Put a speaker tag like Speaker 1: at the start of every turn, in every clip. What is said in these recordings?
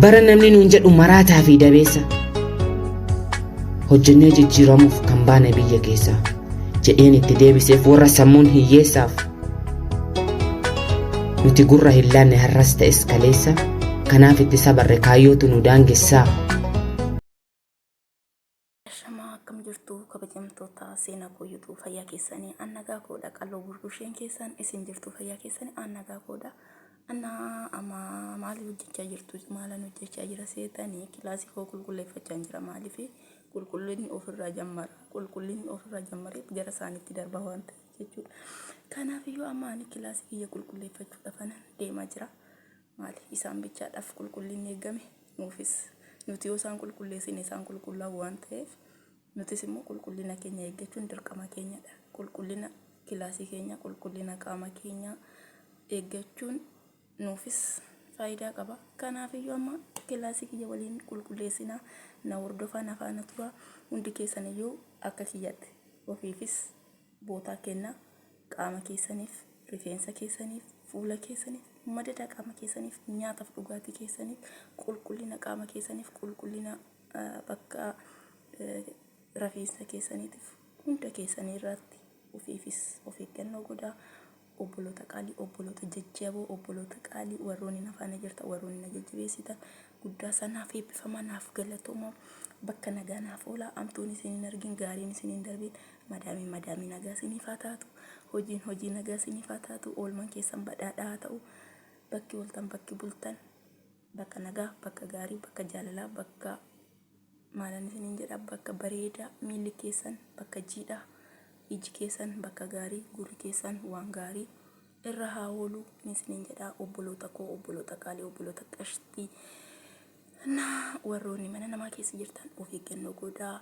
Speaker 1: Bara namni nuun jedhu maraataa fi dabeessa hojjennee jijjiiramuuf kan baane biyya keessaa jedheen itti deebiseef warra sammuun hiyyeessaaf nuti gurra hin laanne har'as ta'es kaleessa kanaaf itti sabarre kaayyootu nu daangessaa.
Speaker 2: Ashamaa akkam jirtu kabajamtoota seenaa koo yuutuu fayyaa keessanii an nagaa koodha qalloo burbusheen keessan isin jirtu fayyaa keessanii an nagaa koodha anna amma maali hojjechaa jirtu maalan hojjechaa jira seetanii kilaasii koo qulqulleeffachaa jira maaliif qulqullinni ofirraa jammara qulqullinni ofirraa jammaree gara isaaniitti darba waan ta'e jechuudha kanaaf iyyuu amma ani kilaasii kiyya qulqulleeffachuudhaaf anan deemaa jira maali? Isaan bichaadhaaf qulqullinni eeggame, nuufis. Nuti yoo isaan qulqulleessine isaan qulqullaa'u waan ta'eef, nutis immoo qulqullina keenya eeggachuun dirqama keenyadha. Qulqullina kilaasii keenyaa, qulqullina qaama keenyaa eeggachuun nuufis faayidaa qaba. Kanaafiyyuu amma kilaasii kiyya waliin qulqulleessinaa, na hordofaa, na faana turaa. Hundi keessaniyyuu akka kiyyatti ofiifis bootaa kenna qaama keessaniif rifeensa keessaniif fuula keessaniif madada qaama keessaniif nyaataaf dhugaatii keessaniif qulqullina qaama keessaniif qulqullina bakka rafeensa keessaniitiif hunda keessanii irratti ofiifis of eeggannoo godhaa Obboloota qaalii, obboloota jajjaboo, obboloota qaalii warroonni na faana jirtan, warroonni na jajjabeessitan guddaa isaa naaf eebbifamaa, naaf galatoomaa, bakka nagaa naaf oolaa, amtuun isin hin argin, gaariin isin hin darbin, madaamiin madaamii nagaa isiniif haa taatu, hojiin hojii nagaa isiniif haa taatu, oolmaan keessan badhaadhaa haa ta'u, bakki ooltan, bakki bultan. Bakka nagaa, bakka gaarii, bakka jaalalaa, bakka maalan isiniin jedha, bakka bareedaa, miilli keessan bakka jiidhaa, iji keessan bakka gaarii, gurri keessan waan gaarii irra haa oolu ni isiniin jedha obboloota koo, obboloota qaalii, obboloota qashtii. Na warroonni mana namaa keessa jirtan of eeggannoo godhaa.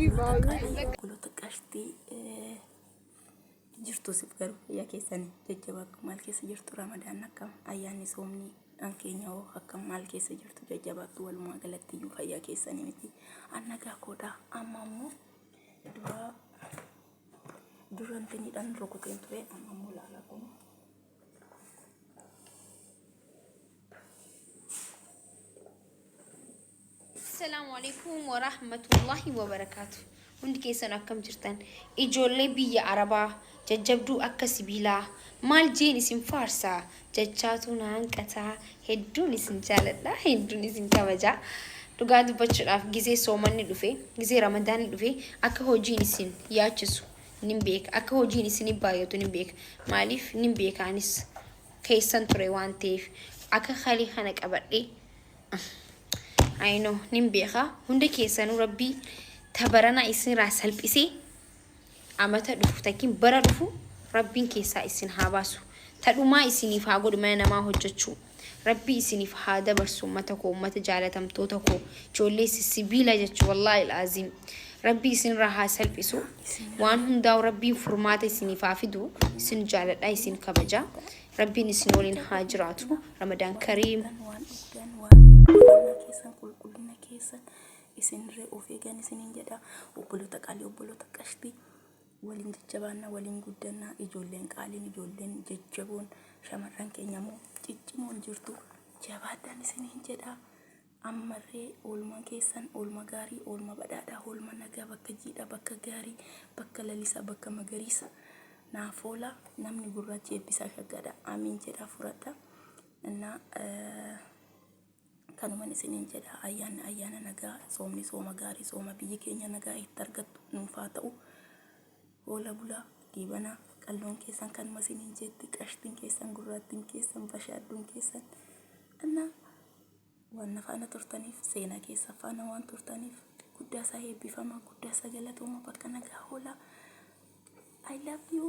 Speaker 2: Qulqullota qashtii jirtu sif garu yaa keessan jajjabaa akka maal keessa jirtu ramadaan akka ayyaanni soomni dhaan keenya hoo akka maal keessa jirtu jajjabaa akka walumaa galatti iyyuu fayyaa keessanii miti annagaa koodhaa amma ammoo duraa durantinidhaan rukuteen ture amma immoo laalaa kun
Speaker 3: Assalaamu alaikum wa rahmatullahi wa barakaatu. Hundi keessan akkam jirtan? Ijoollee biyya Arabaa jajjabduu akka sibiilaa maal jeen isin faarsaa jachaatu na hanqataa hedduun isin jaaladha hedduun isin kabajaa. Dhugaa dubbachuudhaaf gizee soomanni dhufe gizee ramadaanni dhufe akka hojiin isin yaachisu nin beeka akka hojiin isinif baay'atu nin beeka maaliif nin beeka anis keessan ture waan ta'eef akka kalii kana qabadhe ayino nin beeka hunda keessanuu rabbii tabarana isinirraa salphisee amata dhufu takkin bara dhufu rabbiin keessaa isin haa baasu tadhumaa isiniif haa godhu mana namaa hojjechuu Rabbii isinif haa dabarsu ummata koo ummata jaalatamtoota koo ijoollee sissibiila jechu wallaahi alaaziim rabbii isinirraa haa salphisu waan hundaa'u rabbiin furmaata isiniif haa fidu isin jaaladha isin kabaja rabbiin isin waliin haa jiraatu ramadaan kariim Kan waan dhugdan waan qulqullina keessan qulqullina
Speaker 2: keessan isinirree of eegan isiniin jedha obboloota qalii obboloota qashtii Waliin jajjabaanna, waliin guddanna, ijoolleen qaaliin, ijoolleen jajjaboon, shamarran keenya immoo ciccimoon jirtu jabaadhaan isiniin jedha. Ammallee oolmaan keessan oolma gaarii, oolma badhaadhaa, oolma nagaa bakka jiidhaa, bakka gaarii, bakka lalisaa, bakka magariisa naaf oola. Namni gurraachi eebbisaa shaggaadha. Amiin jedhaa fudhadha. Innaa eh, Kanuman isiniin jedha ayyaanni ayyaana nagaa soomni sooma gaarii sooma biyyi keenya nagaa itti argattu nuuf haa ta'u hoola bulaa diibanaa qalloon keessan kanuma isiniin jeetti qashtiin keessan gurraattiin keessan bashaadduun keessan anna waan na faana turtaniif seenaa keessa faana waan turtaniif guddaa isaa eebbifamaa guddaa isaa galatooma bakka nagaa hoolaa I love you.